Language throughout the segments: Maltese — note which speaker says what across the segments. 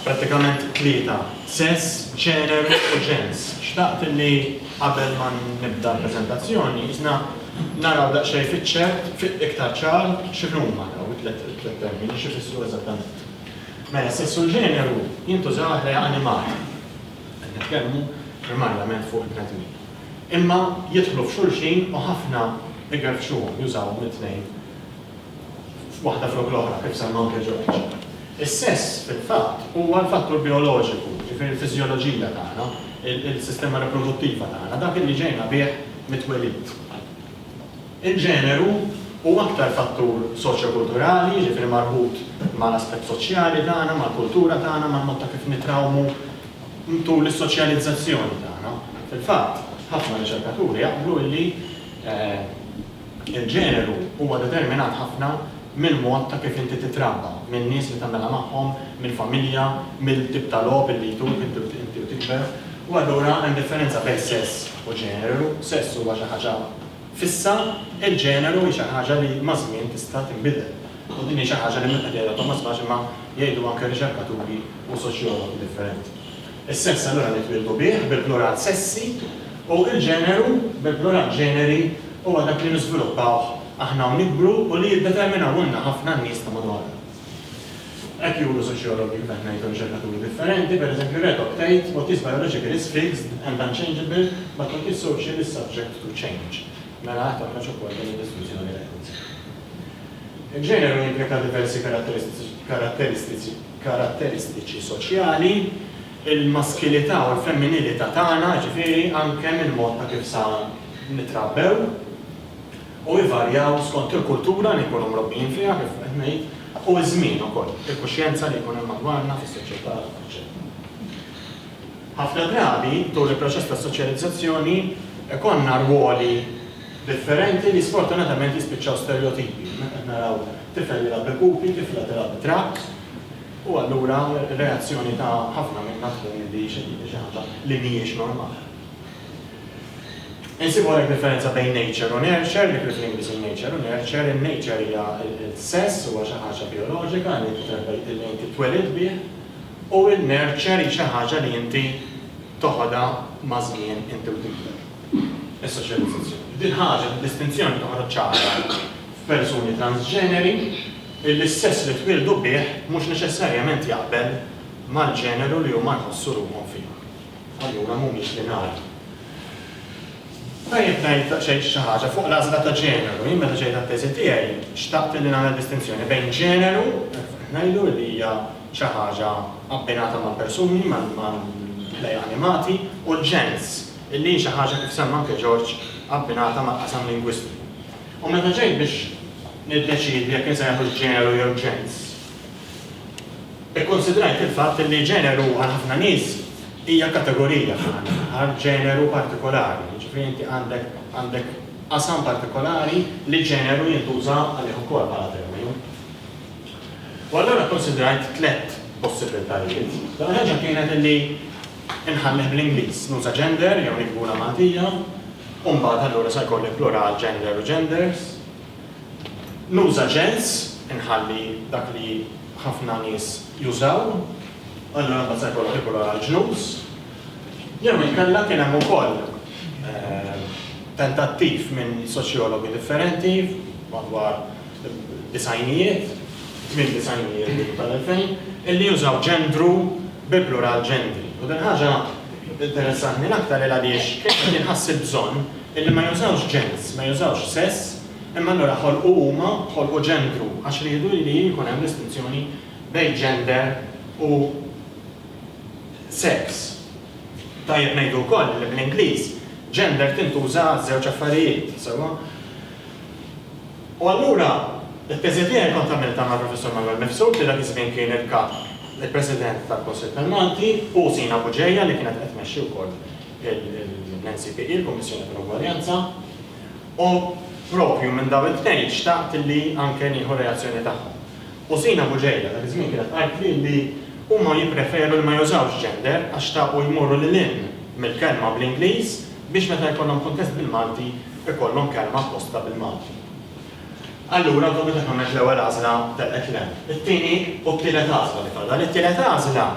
Speaker 1: pratikament tlieta, sess, ċerer u ġens. Xtaqt li qabel ma nibda l-prezentazzjoni, jisna naraw daqxej fiċċer, fit iktar ċar, xinuma daw it-tlet termini, xifissu eżattament. Mela, s-sess u l-ġeneru jintużaw għall-ħajja animata, qed nitkellmu primarjament fuq il-bnedmin, imma jidħlu f'xulxin u ħafna igerfxuhom, jużawhom it-tnejn waħda flok l-oħra, kif semma anke George. Is-sess, fil-fatt, huwa l-fattur bijoloġiku, jiġifieri l-fiżjoloġija tagħna, il-sistema riproduttiva tagħna, dak li ġejna bih mit-twelid. Il-ġeneru hu aktar fattur soċjokulturali, jiġifieri marbut mal-aspett soċjali tagħna, mal-kultura tagħna, mal-mod ta' kif nitrawmu tul is-soċjalizzazzjoni tagħna. Fil-fatt, ħafna riċerkaturi jaqblu illi l-ġeneru huwa determinat ħafna mill-mod ta' kif inti titrabba, min-nies li tagħmilha magħhom, mill-familja, mill-tip ta' logħob illi jtuk inti u tikber. U allura hemm differenza bejn sess u ġeneru. Sess huwa xi ħaġa fissa, il-ġeneru hi xi ħaġa li maż-żmien tista' tinbidel, u din hi xi ħaġa li mhux qed jgħidha Thomas Bache imma jgħidu anke riċerkaturi u soċjologi differenti. Is-sess allura nitwieldu bih, bil-plural sessi, u l-ġeneru, bil-plural ġeneri, huwa dak li niżviluppawh aħna u nikbru u li jiddeterminawhulna ħafna n-nies ta' madwarna. Hekk juru soċjologi meta qed ngħidu riċerkaturi differenti, pereżempju Redok tgħid, What is biologically is fixed and unchangeable, but what is social is subject to change. Mela għad toħroġ ukoll din id-diskussjoni li qed nisimgħu. Il-ġeneru jimplika diversi karatteristiċi karatteristiċi soċjali, il-maskilità u l-femminilità tagħna, jiġifieri anke mill-mod ta' kif sa nitrabbew, u jvarjaw skont il-kultura li nkunu mrobbijin fiha, kif qed ngħid, u ż-żmien ukoll, il-kuxjenza li jkun hemm madwarna, fis-soċjetà, eċċetera. Ħafna drabi, tul il-proċess ta' soċjalizzazzjoni, ikollna rwoli differenti li sfortunatament jispiċċaw sterjotipi. Hawnhekk qed naraw tifel jilgħab bil-pupi, tifla tilgħab bit-trakks, u allura r-reazzjoni ta' ħafna minna tkun li xi ħaġa li mhijiex normali. Insibu hawnhekk differenza bejn nature u nurture, dik li fl-Ingliż hi nature u nurture. In-nature hija s-sess, huwa xi ħaġa bijoloġika li inti twelid bih, u n-nurture hi xi ħaġa li inti toħodha maż-żmien inti u tikber, is-soċjalizzazzjoni. Din ħaġa, din distinzjoni toħroġ ċara f'persuni transġeneri illi s-sess li twieldu bih mhux neċessarjament jaqbel mal-ġeneru li huma jħossu ruħhom fih. Allura mhumiex lineari. Tajjeb ngħid daqsxejn xi ħaġa fuq l-għażla ta' ġeneru. Jien meta ġejt għat-teżi tiegħi xtaqt li nagħmel distinzjoni bejn ġeneru, ngħidu li hija xi ħaġa abbinata mal-persuni, mal-ħlejjaq animati, u l-ġens, li hi xi ħaġa kif semma anke George abbinata mal-qasam lingwistiku. U meta ġejt biex niddeċiedi jekk insejħux ġeneru jew ġens, Ikkunsidrajt il-fatt li ġeneru għal ħafna nies hija kategorija fl-aħħar mill-aħħar, ġeneru partikolari, jiġifieri inti għandek għandek qasam partikolari li ġeneru jintuża għalih ukoll bħala terminu. U allura kkunsidrajt tliet possibbiltajiet. L-ewwel ħaġa kienet illi inħallih bl-Ingliż, nuża gender jew niktbulha Maltija, u mbagħad allura se jkolli plural gender u genders, Nuża ġens, inħalli dak li ħafna nies jużaw, allura mbagħad se jkollok il-kulur għall-ġnus. Jew inkella kien hemm ukoll tentattiv minn soċjologi differenti madwar id-disgħinijiet, tmiem disgħinijiet bidu tal-elfejn, illi jużaw ġendru bi plural ġendri. U din il-ħaġa interessatni l-aktar il għaliex kien ħass il-bżonn, Illi ma jużawx ġens, ma jużawx sess, imma allura ħolqu huma, ħolqu ġendru, għax riedu illi jkun hemm distinzjoni bejn gender u seks. Tajjeb ngħidu wkoll illi bl-Ingliż gender tintuża għaż-żewġ affarijiet, sewwa? U allura, it-teżi tiegħi kont għamiltha mal-Professur Manwel Mifsud li dak iż-żmien kien il-Kap, il-President tal-Kunsill tal-Malti, u Sina Buġeja li kienet qed tmexxi wkoll l-NCPE, il-Kummissjoni tal-Ugwaljanza, u proprju minn dawn it-tnejn xtaqt li anke nieħu r-reazzjoni tagħhom. U Sina Bugeja dak iż-żmien kienet qaltli li huma jippreferu li ma jużawx gender għax xtaqu jmorru lil hinn mill-kelma bl-Ingliż biex meta jkollhom kuntest bil-Malti jkollhom kelma apposta bil-Malti. Allura awtomatikament l-ewwel għażla telqet le. It-tieni u t-tielet għażla li fadal. It-tielet għażla.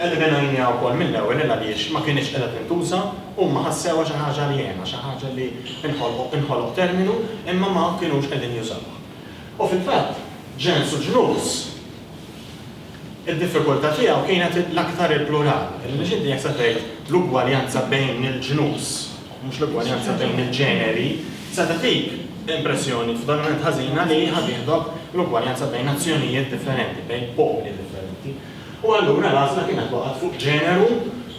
Speaker 1: Eliminajniha wkoll mill-ewwel il għaliex ma kinitx qiegħda tintuża, huma ħassewha xi ħaġa għaljena, xi ħaġa li nħolqu inħoloq terminu imma ma kinux qegħdin jużawha. U fil-fatt ġens u ġnus id-diffikultà tiegħu kienet l-aktar il-plural, għaliex inti jekk se tgħid l-ugwaljanza bejn il-ġnus, mhux l-ugwaljanza bejn il-ġeneri, se tagħtik impressjoni totalment ħażina li ħa tieħdok l-ugwaljanza bejn nazzjonijiet differenti, bejn popli differenti. U allura l-għażla kienet waqgħet fuq ġeneru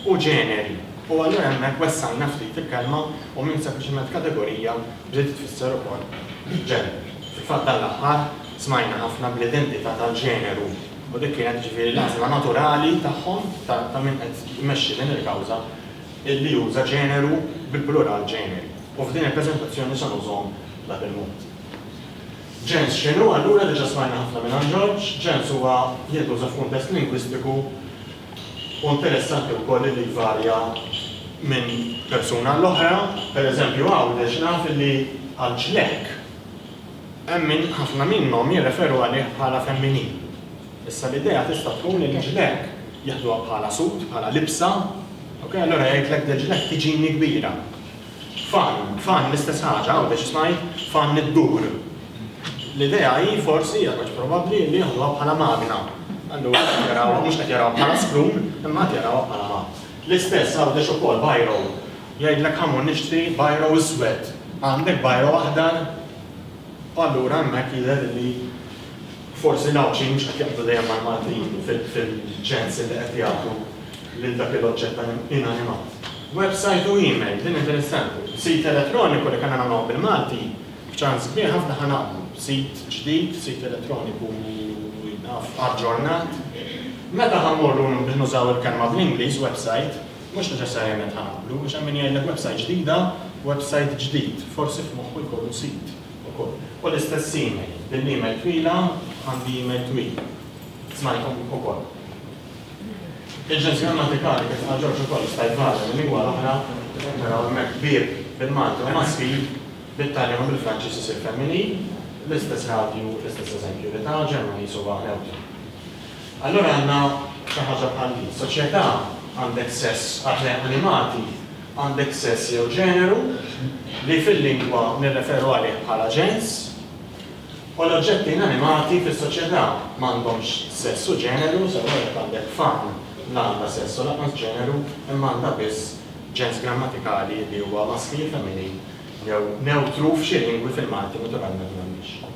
Speaker 1: u ġeneri. U allura hemmhekk wessajna ftit il-kelma u minn sempliċement kategorija bdiet tfisser ukoll ġenru. Fil-fatt dan l-aħħar smajna ħafna bl-identità tal-ġeneru u dik kienet jiġifieri l-għażla naturali tagħhom, ta' min qed imexxi din il-kawża, li juża ġeneru bil-plural ġeneri. U f'din il-preżentazzjoni se nużahom bla bil-mod. Ġens x'inhu? Allura diġà smajna ħafna mingħand George, ġens huwa jintuża f'kuntest lingwistiku u interessanti wkoll li jvarja minn persuna għall-oħra. Pereżempju hawn għax naf li għal ġlekk hemm min ħafna minnhom jirreferu għalih bħala femminil. Issa l-idea tista' tkun li ġlekk jaħduha bħala sut, bħala libsa, ok, allura jgħidlek li ġlekk tiġini kbira. Fan, fan, l-istess ħaġa, għawdex isma' hi, fan li ddur. L-idea hi, forsi, aktarx probabbli, li jaħduha bħala magna. Allura qed jarawha, mhux qed jarawha bħala screw, imma qed jarawha bħala magna. L-istess għawdex ukoll biro. Jgħidlek ha mur nixtri biro iswed. Għandek biro aħdar? U allura hemmhekk jidher li. Forsi l-Għawdxin mhux qed jaqblu dejjem mal-Maltin fil-ċens li qed jagħtu lil dak il-oġġett inanimat. Websajt u email, li minn din is-sample. Sit elettroniku li kellna nagħmluh bil-Malti, b'ċans kbir ħafna ħa naqblu. Sit ġdid, sit elettroniku aġġornat. Meta ħa mmorru nużaw il-kelma bl-Ingliż, websajt, mhux neċessarjament ħa naqblu, għax hemm min jgħidlek websajt ġdida, websajt ġdid, forsi f'moħħu jkollu sit. ukoll. U l-istess email, din l-email twila għandi email twil. Smajthom ukoll. Il-ġens grammatikali kif qal Ġorġ ukoll jista' jitgħallem il-lingwa l-oħra, qed naraw hemmhekk bieb bil-Malti u maskil, bit-Taljan u bil-Franċiż isir femminil, l-istess radju, l-istess eżempju li ta, Ġermaniż huwa newtru. Allura għandna xi ħaġa bħal din. Soċjetà għandek sess, għax lejn animati, għandek sess jew ġeneru, li fil-lingwa nirreferu għalih bħala ġens, u l-oġġetti inanimati fis-soċjetà m'għandhomx sess u ġeneru, sewa jekk għandek fan la għandha sess u lanqas ġeneru imma għandha biss ġens grammatikali li huwa maskili, femminil jew newtru f'xi lingwi fil-Malti naturalment m'għandhiex.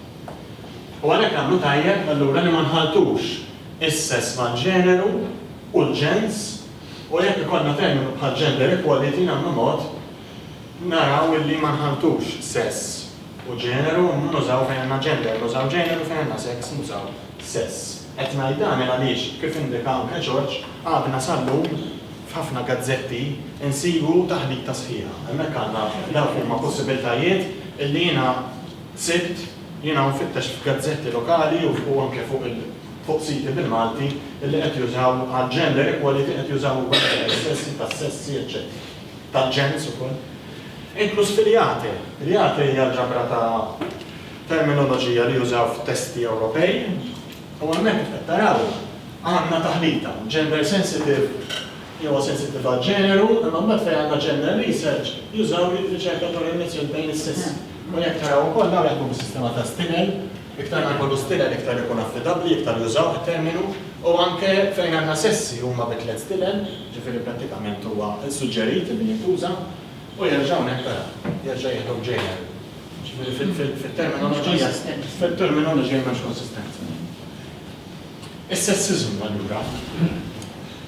Speaker 1: U għalhekk nagħmlu tajjeb allura li ma nħalltux is-sess mal-ġeneru u l-ġens U jekk ikollna terminu bħal gender equality nagħmlu mod naraw illi ma nħalltux sess u ġeneru nużaw fejn għandna gender nużaw ġeneru fejn għandna seks nużaw sess. Qed ngħid dan il għaliex kif indika anke George għadna sal-lum f'ħafna gazzetti nsibu taħlita sħiħa. Hemmhekk għandna dawk huma possibiltajiet illi jiena sibt jiena u nfittex f'gazzetti lokali u anke fuq il fuq siti bil-Malti li qed jużaw għal gender equality qed jużaw ukoll tal-istessi, tas-sessi eċċetera tal-ġens ukoll, inkluż fil-IATE. L-IATE hija l-ġabra ta' terminoloġija li jużaw f'testi Ewropej u hemmhekk kif qed taraw għandna taħlita, gender sensitive li huwa sensittiv għall-ġeneru imma mbagħad fejn għandna gender research jużaw riċerkaturi mniżżlin bejn is-sessi u jekk taraw ukoll dawn jaħdmu bis-sistema ta' Stinel, Iktar ma jkollu stilel iktar ikun affidabbli, iktar jużawh it-terminu u anke fejn għandna sessi huma bi tliet stilel, ġifieri prattikament huwa suġġerit li jintuża u jerġa' hawnhekk tara, jerġa' jieħdu ġeneru. Ġifieri fit-terminoloġija fit-terminoloġija m'hemmx konsistenza. Is-sessiżmu allura,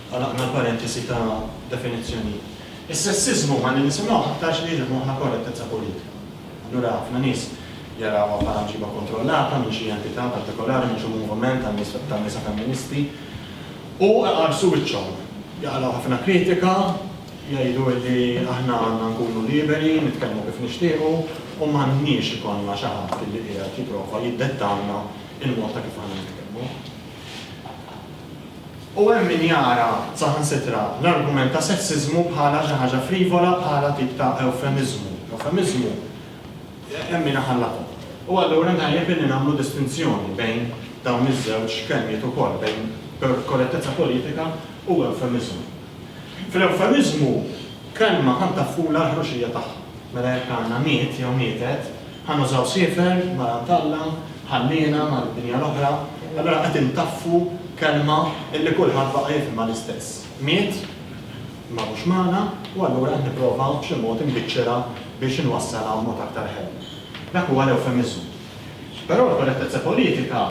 Speaker 1: għalaqna l-parentesi ta' definizzjonijiet, is-sessiżmu huwa li nisimgħuh aktarx li jiġi f'moħħna korrettezza politika. Allura ħafna nies jarawha bħala mġiba kontrollata minn xi entità partikolari mhux il-moviment tan-nisa femministi u iqarsu wiċċhom. Jaqlgħu ħafna kritika, jgħidu li aħna għandna nkunu liberi nitkellmu kif nixtiequ u m'għandniex ikollna xi ħadd li qiegħed jipprova jiddettalna l-mod ta' kif għandna nitkellmu. U hemm min jara, saħansitra, l-argument ta' sessiżmu bħala xi ħaġa frivola, bħala tip ta' ewfemiżmu. Ewfemiżmu, hemm min iħallatha. U allura tajjeb illi nagħmlu distinzjoni bejn dawn iż-żewġ kelmiet ukoll, bejn korrettezza politika u ewfemiżmu. Fl-ewfemiżmu, kelma tant taffula l-ħruxija tagħha. Mela jekk għandna miet jew mietet, Ħa nużaw siefer mingħand Alla, ħanniena mal-dinja l-oħra, allura qed intaffu kelma li kulħadd baqa' jifhimha l-istess. Miet, imma mhux magħna, u allura qed nipprova b'xi mod inbiċċerha biex inwassalha b'mod aktar ħelu. Dak huwa l-ewfemiżmu. Però l-korrettezza politika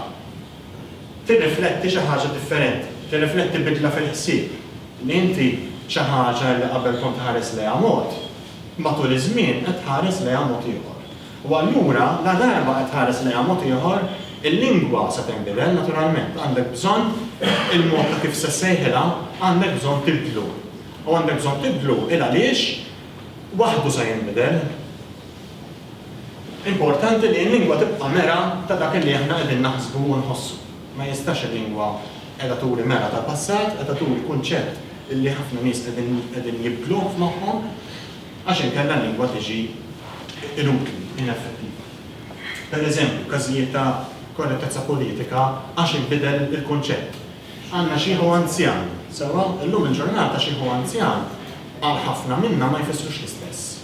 Speaker 1: tirrifletti xi ħaġa differenti, tirrifletti bidla fil-ħsieb, li inti xi ħaġa li qabel kont tħares lejha mod, matul iż-żmien qed tħares lejha mod ieħor. U allura, ladarba qed tħares lejha mod ieħor, il-lingwa se tinbidel, naturalment. Għandek bżonn il-mod ta' kif se ssejħilha, għandek bżonn tibdlu. U għandek bżonn tibdlu il-għaliex waħdu se jinbidel. Importanti li l-lingwa tibqa' mera ta' dak li aħna qegħdin naħsbu u nħossu. Ma jistax il-lingwa qiegħda turi mera tal-passat, qiegħda turi kunċett, li ħafna nies qegħdin jibdluh f'moħħhom għax inkella l-lingwa tiġi inutli, ineffettiva. Per eżempju, każijiet ta' korrettezza politika għax inbidel il-kunċett. Għandna xieħu anzjan, sewwa? Illum il-ġurnata xieħ u anzjan għal ħafna minna ma jfissrux l-istess.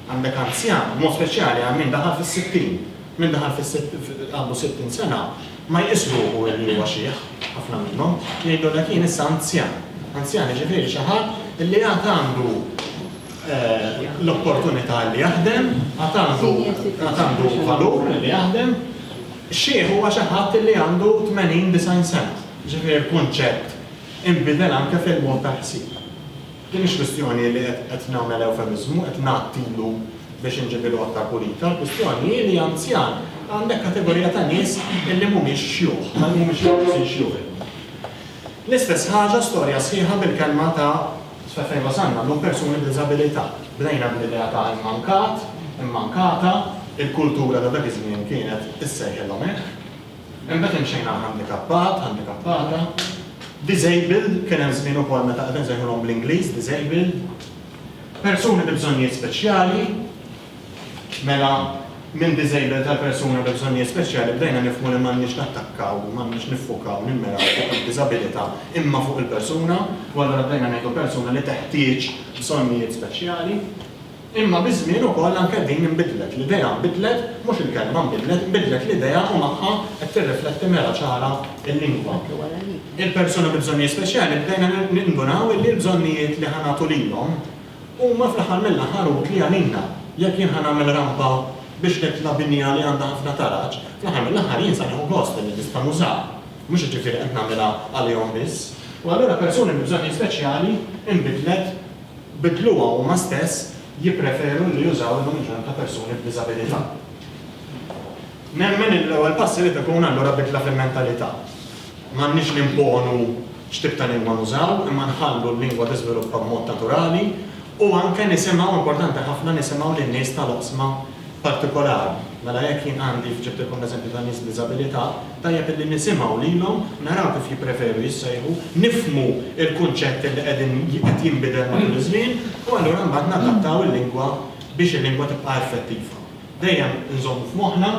Speaker 1: Għandek anzjan, b'mod speċjali għal min daħal fis-sittin. Min daħal fis-sittin, għandu sittin sena, Ma jqis ruħu li huwa xiħ, ħafna minnhom jgħidu li kien issa anzjan. Anzjan jiġifieri xi ħadd li għad għandu l-opportunità li jaħdem, għad għandu għad għandu valur li jaħdem. Xiħ huwa xi ħadd li għandu 80, 90 sena. Jiġifieri l-kunċett inbidel anke fil-mod tal-ħsieb. Din mhix kwistjoni li qed nagħmel ewfemiżmu, qed ngħattilu biex inġibilu aktar pulita, l-kwistjoni hi li anzjan għandek kategorija ta' nies illi mhumiex xjuħ, ma mhumiex joqsin xjuħ illum. L-istess ħaġa storja sħiħa bil-kelma ta' sa fejn wasalna llum persuni b'diżabilità. Bdejna bl-idea ta' immankat, immankata, il-kultura ta' dak iż-żmien kienet issejħilhom hekk. Imbagħad hemm xejn għal handikappat, handikappata, disabled, kien hemm żmien ukoll meta qed insejħulhom bl-Ingliż disabled, persuni bi bżonnijiet speċjali, mela minn disabled għal persuna bi bżonnijiet speċjali bdejna nifhmu li m'għandniex nattakkaw, m'għandniex niffukaw, nimmiraw fuq id-diżabilità imma fuq il-persuna, u allura bdejna ngħidu persuna li teħtieġ bżonnijiet speċjali. Imma biż-żmien ukoll anke din inbidlet, l-idea nbidlet, mhux il-kelma nbidlet, inbidlet l-idea u magħha qed tirrifletti mera ċara l-lingwa. Il-persuni bi bżonnijiet speċjali bdejna nindunaw illi l-bżonnijiet li ħa nagħtu lilhom huma fl-aħħar mill-aħħar utli għalina. Jekk jien ħa nagħmel rampa biex nitla' binja li għandha ħafna taraġ, fl-aħħar mill-aħħar jien sa nieħu gost illi nista' nużaha, mhux jiġifieri qed nagħmilha għalihom biss. U allura persuni bi bżonnijiet speċjali inbidlet. bidluha huma stess jippreferu li jużaw il-unġent ta' persuni b'diżabilità. Nemmen li l-ewwel pass irid ikun allura bidla fil-mentalità. M'għandniex nimponu x'tip ta' lingwa nużaw imma nħallu l-lingwa tiżviluppa b'mod naturali u anke nisimgħu, importanti ħafna, nisimgħu lin-nies tal-oqsma partikolari. Mela jekk jien għandi, ġibt ilkom l-eżempju tan-nies b'diżabilità, tajjeb illi nisimgħu lilhom, naraw kif jippreferu jissejħu, nifhmu l-kunċett li qegħdin li qed jinbidel matul iż-żmien u allura mbagħad nadattaw il-lingwa biex il-lingwa tibqa' effettiva. Dejjem inżommu f'moħħna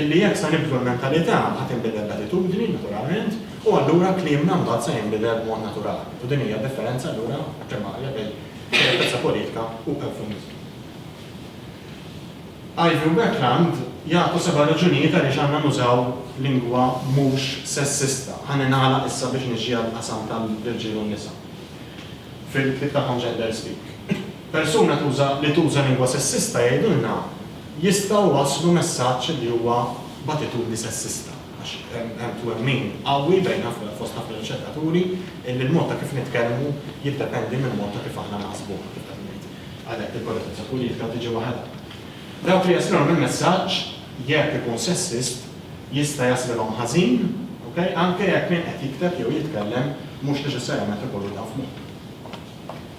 Speaker 1: illi jekk se nibdlu l-mentalità ħa tinbidel l-attitudni, naturalment, u allura kliemna mbagħad se jinbidel b'mod naturali. U din hija d-differenza allura primarja bejn korrettezza politika u ewfemiżmu. Ivy u Bertrand jagħtu seba' raġunijiet għaliex għandna nużaw lingwa mhux sessista. Ħalli nagħlaq issa biex niġi għall-qasam tal-irġiel u n-nisa. Fil-ktieb tagħhom Gender Speak, persuna tuża li tuża lingwa sessista jgħidulna jistgħu jwasslu messaġġ li huwa b'attitudni sessista għax hemm twemmin qawwi bejn ħafna fost ħafna riċerkaturi illi l-mod ta' kif nitkellmu jiddependi mill-mod ta' kif aħna naħsbu, kif qed ngħid. Għalhekk il-korrettezza politika tiġi waħedha. Dawk li jesprimu l-messaġġ, jekk ikun sessist, jista' jaslilhom ħażin, ok, anke jekk min qed jikteb jew jitkellem mhux neċessarjament ikollu dan f'moħħu.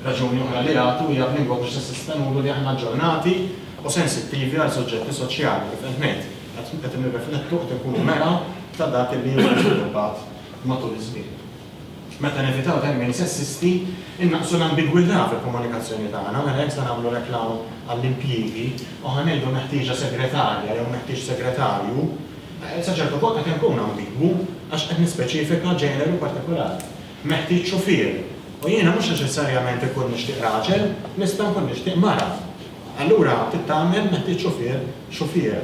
Speaker 1: Raġuni oħra li jagħtu hija b'lingwa mhux sessista nuru li aħna aġġornati u sensittivi għal suġġetti soċjali, kif qed ngħid, qed nirriflettu, qed inkunu mera ta' dak li hu żviluppat matul iż-żmien. Meta nevitaw termini sessisti, innaqqsu l-ambigwità fil-komunikazzjoni tagħna, mela jekk se nagħmlu reklam għall-impjiegi u ħa ngħidu meħtieġa segretarja jew meħtieġ segretarju, sa ċertu punt qed inkun ambigwu għax qed nispeċifika ġeneru partikolari. Meħtieġ xufier, u jiena mhux neċessarjament inkun nixtieq raġel, nista' nkun nixtieq mara. Allura trid tagħmel meħtieġ xufier xufiera.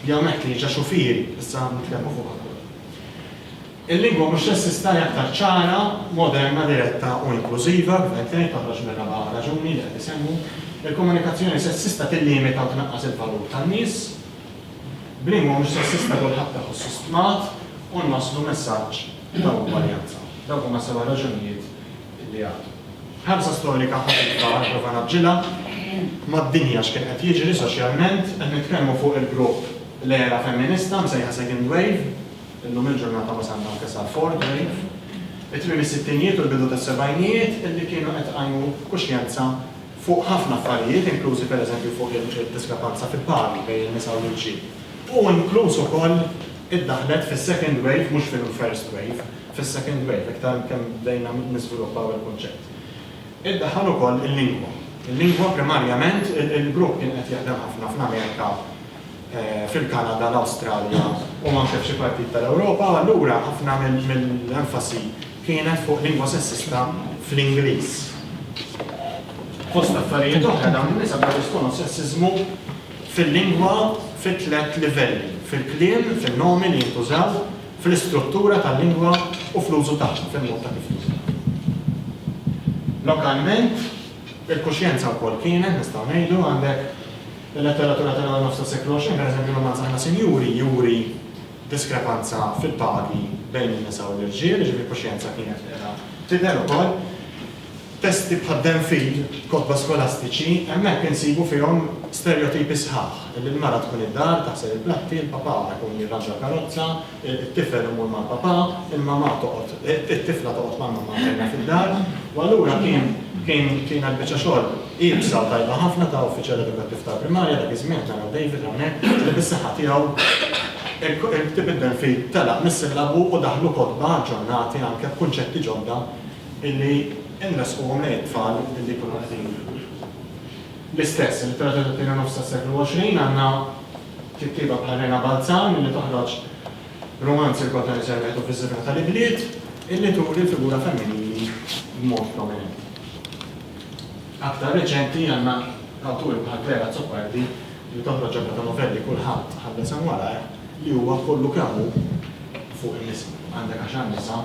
Speaker 1: Jew meħtieġa xufieri, issa nitkellmu fuq aktar. Il-lingwa mhux sessista hija aktar ċara, moderna, diretta u inklużiva, kif qed ngħid, toħroġ mir-raba' raġuni li qed isemmi. Il-komunikazzjoni sessista tillimita u tnaqqas il-valur tan-nies. B'lingwa mhux sessista kulħadd iħossu stmat u nwasslu messaġġ ta' ugwaljanza. Dawk huma s-seba' raġunijiet li għad. Ħarsa storika ħafifa għal prova ngħaġġilha mad-dinja x'kien qed jiġri soċjalment. Qed nitkellmu fuq il-grupp l-era femminista msejħa Second Wave. Illum il-ġurnata wasalna anke sa Ford Wave, it-tmiem is-sittinjiet u l-bidu tas-sebgħinijiet li kienu qed iqajmu kuxjenza fuq ħafna affarijiet inklużi per eżempju fuq il-diskrepanza fil-pagi bejn in-nisa u l-irġiel u inkluż ukoll iddaħħlet fis-second wave mhux fil-first wave, fis-second wave iktar kemm bdejna niżviluppaw il-kunċett. Iddaħħal ukoll il-lingwa. Il-lingwa primarjament il-grupp kien qed jaħdem ħafna fl-Amerika, fil-Kanada, l-Awstralja u anke f'xi partijiet tal-Ewropa u allura ħafna mill-enfasi kienet fuq lingwa sessista fl-Ingliż. Fost affarijiet oħra dawn in-nisa bdew jesponu s-sessiżmu fil-lingwa fi tliet livelli, fil-kliem, fin-nomi li jintużaw, fl-istruttura tal-lingwa u fl-użu tagħha, fil-mod ta' kif tuża. Lokalment il-kuxjenza wkoll kienet, nistgħu ngħidu, għandek Il-letteratura tal-ewwel nofs tas-seklu 20, pereżempju r-rumanz Aħna Sinjuri, juri diskrepanza fil-pagi bejn in-nisa u l-irġiel, jiġifieri l-kuxjenza kienet qiegħda tidher ukoll. Testi bħal Den Fil, kotba skolastiċi, hemmhekk insibu fihom sterjotipi sħaħ, li l-mara tkun id-dar, taħsel il-platti, il-papà ikun jirranġa l-karozza, It-tifel imur ma' papà, il-mamà toqgħod, it-tifla toqgħod ma' mamà tagħha fid-dar, u allura kien, kien, kienet biċċa xogħol iebsa u tajba ħafna ta' uffiċjal edukattiv tal-primarja, dak iż-żmien, naraw David hawnhekk, li bis-saħħa tiegħu il-ktieb id-Delphi telaq mis-sillabu u daħlu kotba aġġornati anke b'kunċetti ġodda illi nressquhom lejn it-tfal illi jkunu qegħdin l-istess. Il-litteratura tat-tieni nofs tas-seklu 20 għandna Kittieba bħal Rena Balzan illi toħroġ rumanzi l-kotna li servet u fiż-żibra tal-ibliet, illi turi l-figura femminili b'mod prominenti. Aktar reċenti għandna awturi bħal Claire Azzopardi li toħroġ ġabra ta' novelli Kulħadd ħa l-isem warajh li huwa kollu kemm hu fuq in-nisa. Għandek għaxar nisa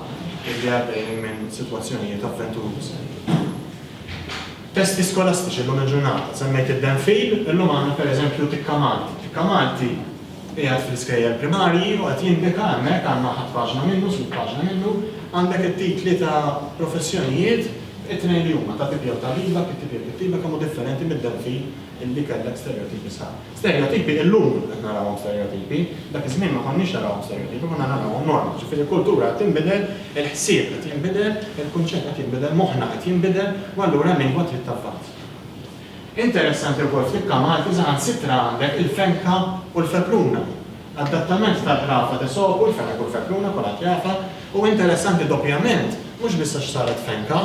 Speaker 1: illi għaddejjin minn sitwazzjonijiet avventurużi. Testi skolastiċi llum il-ġurnata, semmejt id-Denfil, illum għandna pereżempju Tikka Malti. Tikka Malti qiegħed fl-iskejjel primarji u qed jindika hemmhekk, għandna ħadd paġna minnu, sud paġna minnu, għandek it-titli ta' professjonijiet, it-tnejn li huma ta' tibja u tagħlima, kittibija u kittieba, kemm hu differenti mid-Denfil illi kellek stereotipi sħaħ. Stereotipi illum qed narawhom stereotipi, dak iż-żmien ma konniex narawhom stereotipi, konna narawhom norma. Ġifieri l-kultura qed tinbidel, il-ħsieb qed jinbidel, il-kunċett qed jinbidel, moħħna qed jinbidel u allura l-lingwa trid tavvanza. Interessanti wkoll fl-ikka Malti saħansitra għandek il-fenka u l-fepluna. Adattament tal-ħrafa t'Esopu, l-fenek u l-fepluna, kulħadd jafha, u interessanti doppjament, mhux biss għax saret fenka,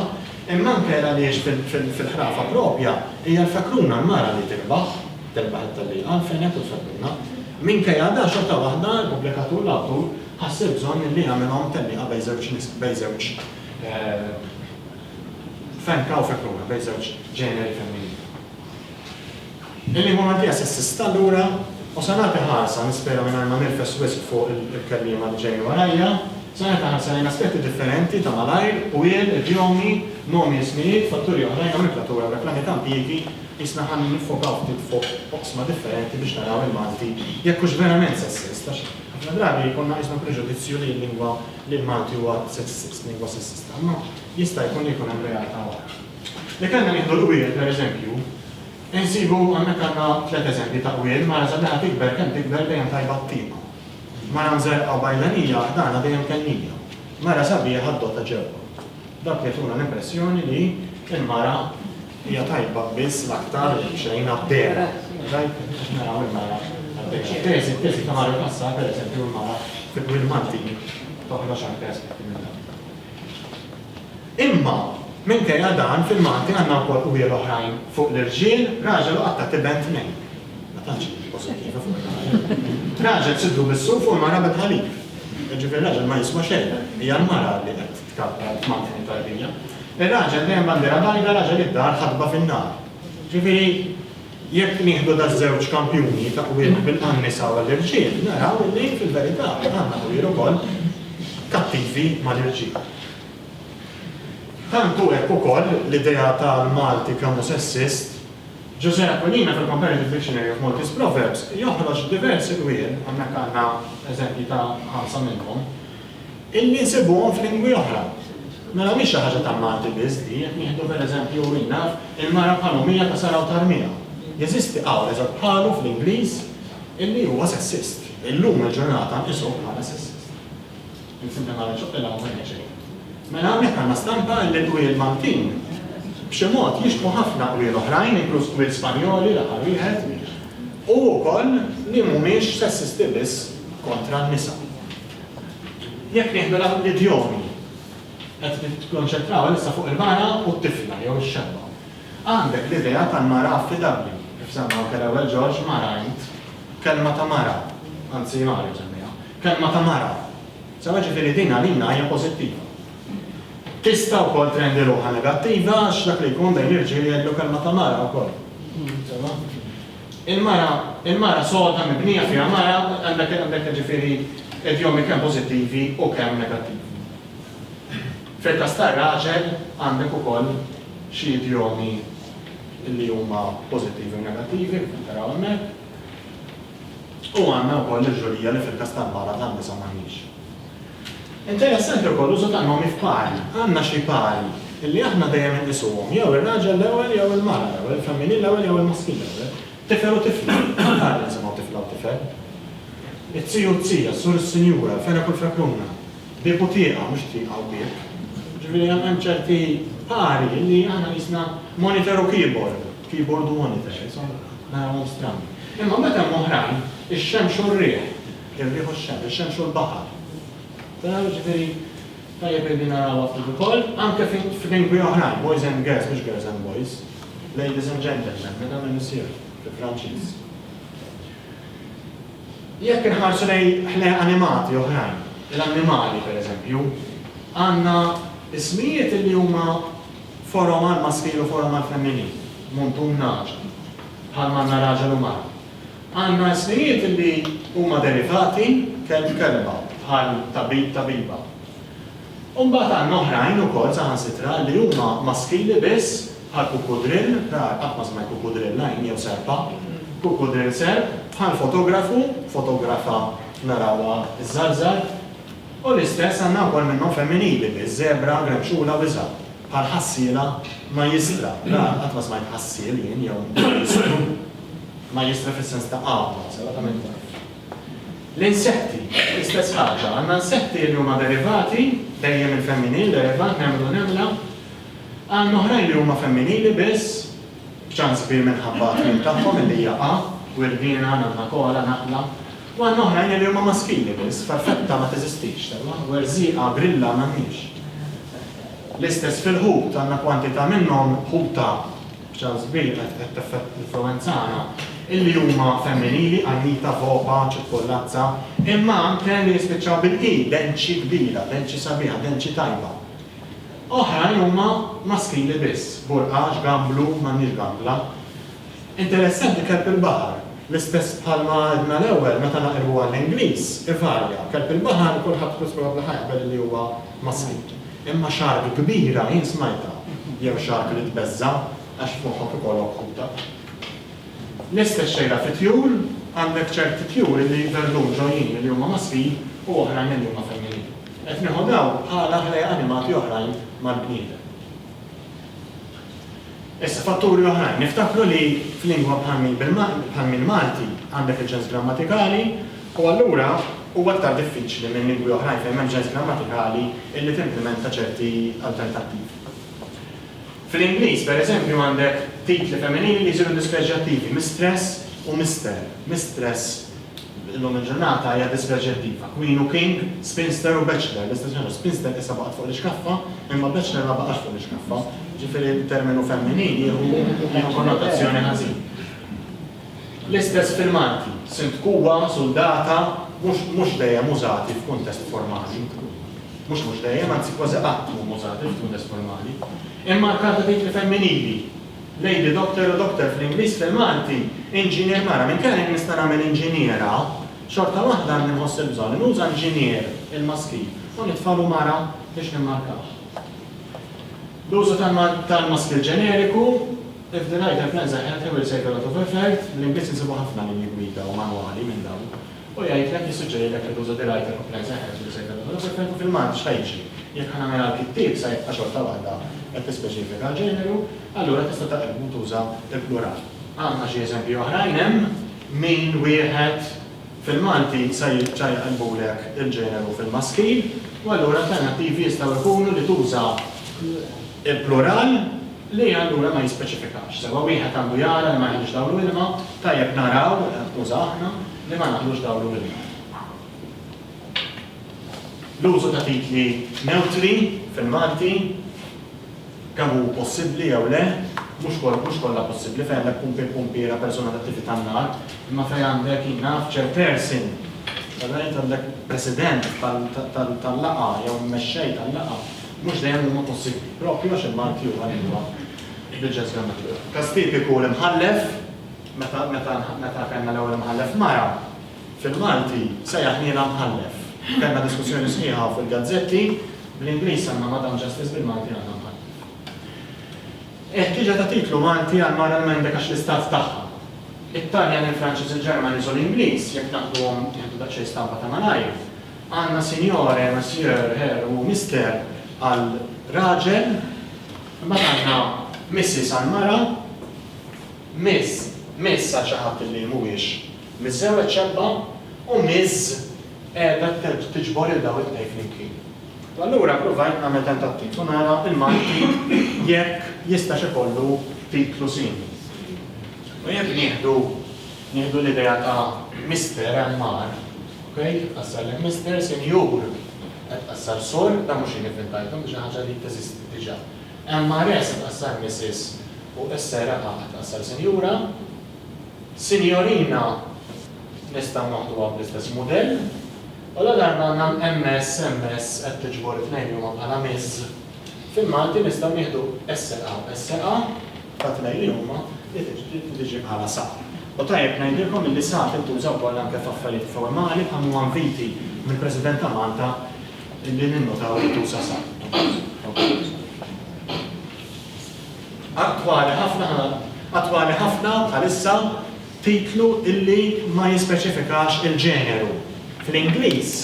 Speaker 1: Imma anke għaliex fil-ħrafa proprja hija l-fekruna l-mara li tirbaħ, tirbaħ it-tellieqa, l-fenek u l-fekruna. Minkejja dan xorta waħda l-pubblikatur, l-awtur, ħass il-bżonn li jagħmilhom tellieqa bejn żewġ nisel, bejn żewġ fenka u fekruna, bejn żewġ ġeneri femminili. Il-lingwa Maltija se ssista lura u se nagħti ħarsa, nispera mingħajr ma nirfes wisq fuq il-kelliema li ġejjin warajja, se nagħti ħarsa lejn aspetti differenti ta' malajr, qwiel, idjomi, nomi, ismijiet, fatturi oħrajn hawn il-platura u dak l-anni ta' impjiegi, qisna ħa niffokaw ftit fuq oqsma differenti biex naraw il-Malti jekk hux verament se ssist, għax ħafna drabi jkollna qisna preġudizzju li l-lingwa li l-Malti huwa sessist, lingwa sessista, imma jista' jkun li jkun hemm realtà oħra. Li kellna nieħdu l-qwiel, pereżempju, insibu hemmhekk għandna tliet eżempji ta' qwiel, mara sabiħa tikber kemm tikber dejjem tajba t-tieqa. Mara mżerrqa u bajlanija ħdana dejjem kennija. Mara sabiħa d-dota ġewwa. Dawk jagħtuna l-impressjoni li l-mara hija tajba biss l-aktar li xejn għad-dehra. Tajb? Biex naraw il-mara għad-dehra. Teżi, teżi ta' Mario Cassar, pereżempju, il-mara fi qwiel Maltin toħroġ anke aspetti minn dawn. Imma, minkejja dan, fil-Malti għandna wkoll qwiel oħrajn fuq l-irġiel, raġel u qattat iben tnejn. Ma tantx hi pożittiva fuq ir-raġel. Raġel sidru bis-suf u l-mara bil-ħalib. Jiġifieri r-raġel ma jiswa xejn, hija l-mara li qed tkabbar f'mankni tarbija. Ir-raġel dejjem bandiera bajda, raġel id-dar ħatba fin-nar. Jiġifieri, jekk nieħdu daż-żewġ kampjuni ta' qwiel għan-nisa u għall-irġiel, naraw li fil-verità għandna qwiel ukoll kattivi mal-irġiel. Tant hu hekk ukoll l-idea tal-Malti kemm-hu sessist. Ġużè Aquilina fil-Comparative Dictionary of Maltese Proverbs joħroġ diversi dwien, hawnhekk għandna eżempji ta' ħamsa minnhom, illi nsibuhom f'lingwi oħra. Mela mhix xi ħaġa tal-Malti biss di, jekk nieħdu per eżempju, min naf, il-mara bħal Omija ta' Sara u Tarmija. Jeżisti qawl eżatt bħalu fl-Ingliż illi huwa sessist. Illum il-ġurnata nqisuh bħala sessist. Insibna nara xi qilgħa ma tajna xejn. Mela hawnhekk għandna stampa li l-qwiel Maltin b'xi mod jixbħu ħafna qwiel oħrajn, inkluż qwiel Spanjoli l-aħħar wieħed, u wkoll li mhumiex sessisti biss kontra n-nisa. Jekk nieħdu l-idjomi qed nikkonċentraw issa fuq il-mara u t-tifla jew ix-xebba. Għandek l-idea tal-mara affidabbli, kif semma anke l-ewwel Ġorġ mara int, kelma ta' mara, anzi mara ġemmija. Kelma ta' mara. Sewa, jiġifieri din għalina hija pożittiva. Tista' wkoll trendi ruħha negattiva għax dak li jkun bejn irġiel jgħidlu kelma ta' mara wkoll. Sewa? Il-mara, il-mara soda mibnija fiha mara, għandek, għandek jiġifieri idjomi kemm pożittivi u kemm negattivi. Fil-każ tar-raġel għandek ukoll xi idjomi li huma pożittivi u negattivi, kif qed taraw hemmhekk. U għandna wkoll il-ġurija li fil-każ tal-bala tan-nisa m'għandniex. Interessanti wkoll l-użu ta' nomi f'pari. Għandna xi pari li aħna dejjem inqisuhom jew ir-raġel l-ewwel jew il-mara l-ewwel, il-femminil l-ewwel jew il-maskil l-ewwel. Tifel u tifla, kemm drabi nisimgħu tifla u tifel? It-tiju u t-tija, s-sur u s-sinjura, l-fenek u l-fekruna, bieb u tieqa, mhux tieqa u bieb. Jiġifieri hemm ċerti pari li aħna qisna monitor u keyboard. Keyboard u monitor, insomma, narawhom strani. Imma mbagħad hemm oħrajn, ix-xemx u r-riħ, ir-riħ u x-xemx, ix-xemx u l-baħar. Taraw, jiġifieri, tajjeb illi narawha ftit ukoll, anke f'lingwi oħrajn, boys and girls, mhux girls and boys, ladies and gentlemen, madame et monsieur, fil-Franċiż. Jekk inħarsu lejn ħlejq animati oħrajn, l-annimali pereżempju, għandna ismijiet li huma Forom għall-maskil u forom għall-femminil, muntun nagħaġa, bħal manna raġel u mara. Għandna ismijiet li huma derivati kelb kelba, bħal tabib tabiba. U mbagħad għandna oħrajn ukoll saħansitra li huma maskili biss, bħal kukudrill, rar, qatt ma smajt kukudrill lajn jew serpa, kukudrill serp, bħal fotografu, fotografa narawha żżarżar. U l-istess għandna wkoll minnhom femminili, bi żebra, gremxula u iżgħar, bħal ħassiela, majjistra, ra, qatt ma smajt ħassiel jien jew majjistru, majjistra fis-sens ta' għawma, sewwa ta' min taf. L-insetti, l-istess ħaġa, għandna insetti li huma derivati, dejjem il-femminil, derivat, nemlu, nemla, għandna oħrajn li huma femminili biss, b'ċans kbir minħabba t-tmiem tagħhom, illi hija a, wirdiena, nanna, koala, naqla, Waħda oħra hija l-irma maskili biss, farfetta ma teżistix sewwa, werżieqa, grilla m'għandniex. L-istess fil-ħut, għandna kwantità minnhom, ħuta b'ċans kbir qed tinfluwenzana, illi huma femminili, qannita, vopa, ċippollazza, imma anke li jispiċċaw bil-i, denċi kbira, denċi sabiħa, denċi tajba. Oħrajn huma maskili biss, burqax, gamblu, m'għandniex gambla. Interessanti kelb il-baħar, l-istess bħalma għedna l-ewwel meta naqilbu għall-Ingliż, ivarja. Kelb il-baħar kulħadd spiss probabbli ħa jaqbel li huwa maskit. Imma shark kbira jien smajtha, jew shark li tbeżża' għax f'moħħok ikollok ħuta. L-istess xejra fit-tjur, għandek ċerti tjur li jidherlhom ġojjin li huma maskin u oħrajn li huma femminili. Qed nieħu dawn bħala ħlejjaq animati oħrajn mal-bniedem. Issa, fatturi oħrajn. Niftakru li f'lingwa bħal mill-Malti għandek il-ġens grammatikali u allura huwa aktar diffiċli minn lingwi oħrajn fejn m'hemmx ġens grammatikali illi timplimenta ċerti alternattivi. Fl-Ingliż, per eżempju, għandek titli femminili li jsiru dispreġġjattivi, mistress u mister, mistress Illum il-ġurnata hija dispjaċir diva, queen u king, spinster u bachelor, distinzjoni, spinster issa baqgħet fuq l-iskaffa, imma bachelor ma baqax fuq l-iskaffa, jiġifieri l-terminu femminil jieħu konnotazzjoni ħażin. L-istess fil-Malti, sindkuwa, suldata, mhux dejjem użati f'kuntest formali. Mhux mhux dejjem, anzi kważi qatt mhum użati f'kuntest formali. Imma l-karta tgħid li femminili. Lady Doctor u Doctor fl-Ingliż, fil-Malti, Inġinier Mara. Minkejja li jien nista' nagħmel Inġiniera, xorta waħda għandi nħoss il-bżonn li nuża Inġinier, il-maskil, u nitfagħlu Mara biex nimmarkawh. L-użu tal-maskil ġeneriku, If the rider plans a healthy, we'll say a lot of effort, bl-Ingliż insibu ħafna linji gwida u manwali minn dawn. U jgħidlek, jissuġġerilek li tuża dirgħajt ta' kumplenza jeħtieġ li ssejħilhom dawn is-sofferenti fil-Malti x'ħa jiġri. Jekk ħa nagħmilha l-kittieb sa jibqa' xorta waħda qed tispeċifika l-ġeneru, allura tista' taqilbu u tuża l-plural. Għandna xi eżempji oħrajn, hemm min wieħed fil-Malti sa jibqa' jqilbulek il-ġeneru fil-maskil u allura alternattivi jistgħu jkunu li tuża l-plural, li allura ma jispeċifikax sewwa, wieħed għandu jara li ma jaħlix dawl u ilma, tajjeb naraw, uża aħna, li ma naħlux dawl u ilma. L-użu ta' titli newtri fil-Malti kemm hu possibbli jew le, mhux mhux kollha possibbli fejn għandek pumpi pumpiera persuna attivi tan-nar, imma fejn għandek naf chairperson, għandek president tal-laqa jew mexxej tal-laqa, mhux dejjem huma possibbli, proprju għax il-Malti huwa lingwa bl-ġens grammatikali. Każ tipiku l-imħallef, meta meta meta kellna l-ewwel imħallef mara, fil-Malti sejjaħnielha mħallef. Kellna diskussjoni sħiħa u fil-gazzetti, bl-Ingliż għandna Madam Justice bil-Malti għandna mħallef. Il-ħtieġa ta' titlu Malti għal mara l-Mendek għax l-istat tagħha. It-Taljan, il-Franċiż, il-Ġermaniż u l-Ingliż, jekk naħduhom, nieħdu daqsxejn stampa ta' malajr, Għandna Signore, Monsieur, Her u Mister għal raġel, imbagħad għandna Mrs. għal mara, Miss, Miss għal xi ħadd li mhuwiex miżżewweġ xebba, u Ms. qiegħda tiġbor lil dawn it-tnejn flimkien. U allura ppruvajt nagħmel tentattiv u nara l-Malti jekk jistax ikollu titlu simili. U jekk nieħdu Nieħdu l-idea ta' Mister hemm mar, ok, qed tqassar lejn Mister, Sinjur, qed tqassar Sur, dan mhux jien ivvintajtu, imma xi ħaġa li teżisti diġà. MRS qed tqassar Missis u SRA qed tqassar Sinjura. Sinjorina nistgħu noħduha bl-istess mudell, u ladarba għandna MS, MS qed tiġbor it-tnejn li huma bħala Miss. Fil-Malti nistgħu nieħdu s-seqgħa u s-seqgħa ta' tnejn li huma li tiġi bħala sa. U tajjeb ngħidilkom illi sa tintuża wkoll anke f'affarijiet formali bħal m'huwa inviti mill-President ta' Malta illi ninnutaw li tuża sa. Attwali ħafna Attwali ħafna bħalissa titlu illi ma jispeċifikax il-ġeneru. Fl-Ingliż,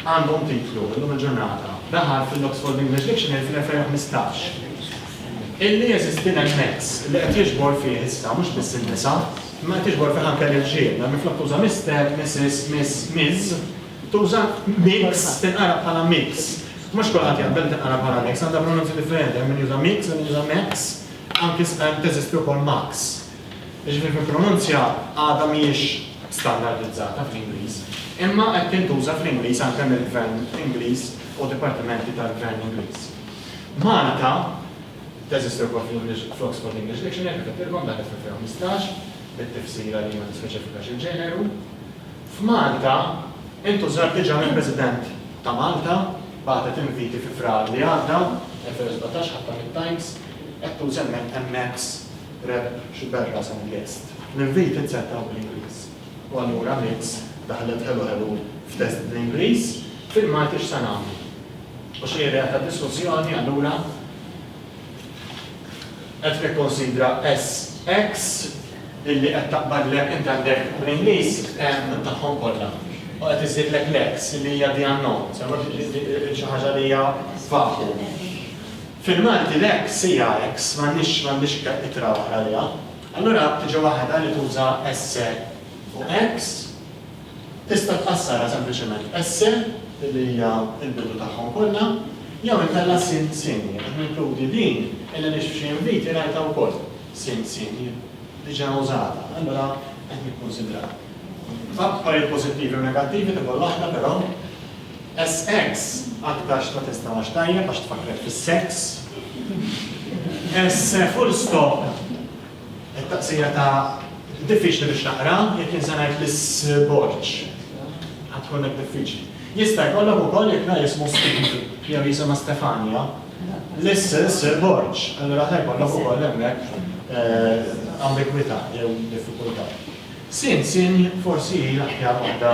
Speaker 1: għandhom titlu illum il-ġurnata dahar fil-Oxford English Dictionary fl-2015 illi jeżisti din il-mezz li qed jiġbor fih issa mhux biss in-nisa imma qed jiġbor fih anke l-irġiel mela minflok tuża Mister, Missis, Miss, Ms. tuża Mix tinqara bħala Mix. Mhux kulħadd jaqbel li tinqara bħala Mix għandha pronunzi differenti hemm min juża Mix hemm min juża Max anki teżisti wkoll Max. Jiġifieri fil-pronunzja għadha mhijiex standardizzata fl-Ingliż, imma qed tintuża fl-Ingliż anke mill-Gvern Ingliż u dipartimenti tal-Gvern Ingliż. Malta teżisti wkoll fl-English, fl-Oxford English Dictionary, kif għedtilkom, daħlet fl-2015, bit-tifsira li ma tispeċifikax il-ġeneru. F'Malta intużat diġà mill-President ta' Malta, bagħtet inviti fi Frar li għadda, 2017, ħatta mit-Times, qed tuża hemmhekk MX. Rep, X'bel rashom Guest. L-invit inzetaw bl-Ingliż. U allura Mix daħlet ħelu ħelu f'test bl-Ingliż, Fil-Malti x'se nagħmlu? U xi idea ta' diskussjoni allura qed tikkunsidra SX billi qed taqbadlek int għandek bl-Ingliż tagħhom kollha u qed iżżidlek l-X li hija the unknown, xi ħaġa li hija vacuum. Fil-Malti l-ek, sija, eks, m'għandniex, m'għandniex itra oħra għaliha. Allura tiġi waħda li tuża esse u eks, tista' tqassarha sempliċement esse, li hija l-bidu tagħhom kollha, jew inkella sin, sini. Qed ninkludi din il għaliex f'xi inviti rajtha wkoll, sin, sini, diġà użata. Allura qed nikkunsidraha. F'affarijiet pożittivi u negattivi ta' kull waħda, però. SX, Aktar x'ta testa għax tajjeb għax tfakkret fis-sex. S full stop, It-taqsira ta' diffiċli biex naqra, jekk jien se ngħid l-isborġ ħa tkun hekk diffiċli. Jista' jkollok ukoll jekk la jismu Steve jew jisimha Stefania, l-isborġ, allura ħa jkollok ukoll hemmhekk ambigwità jew diffikultà. Sin, sin forsi hi l-aħjar waħda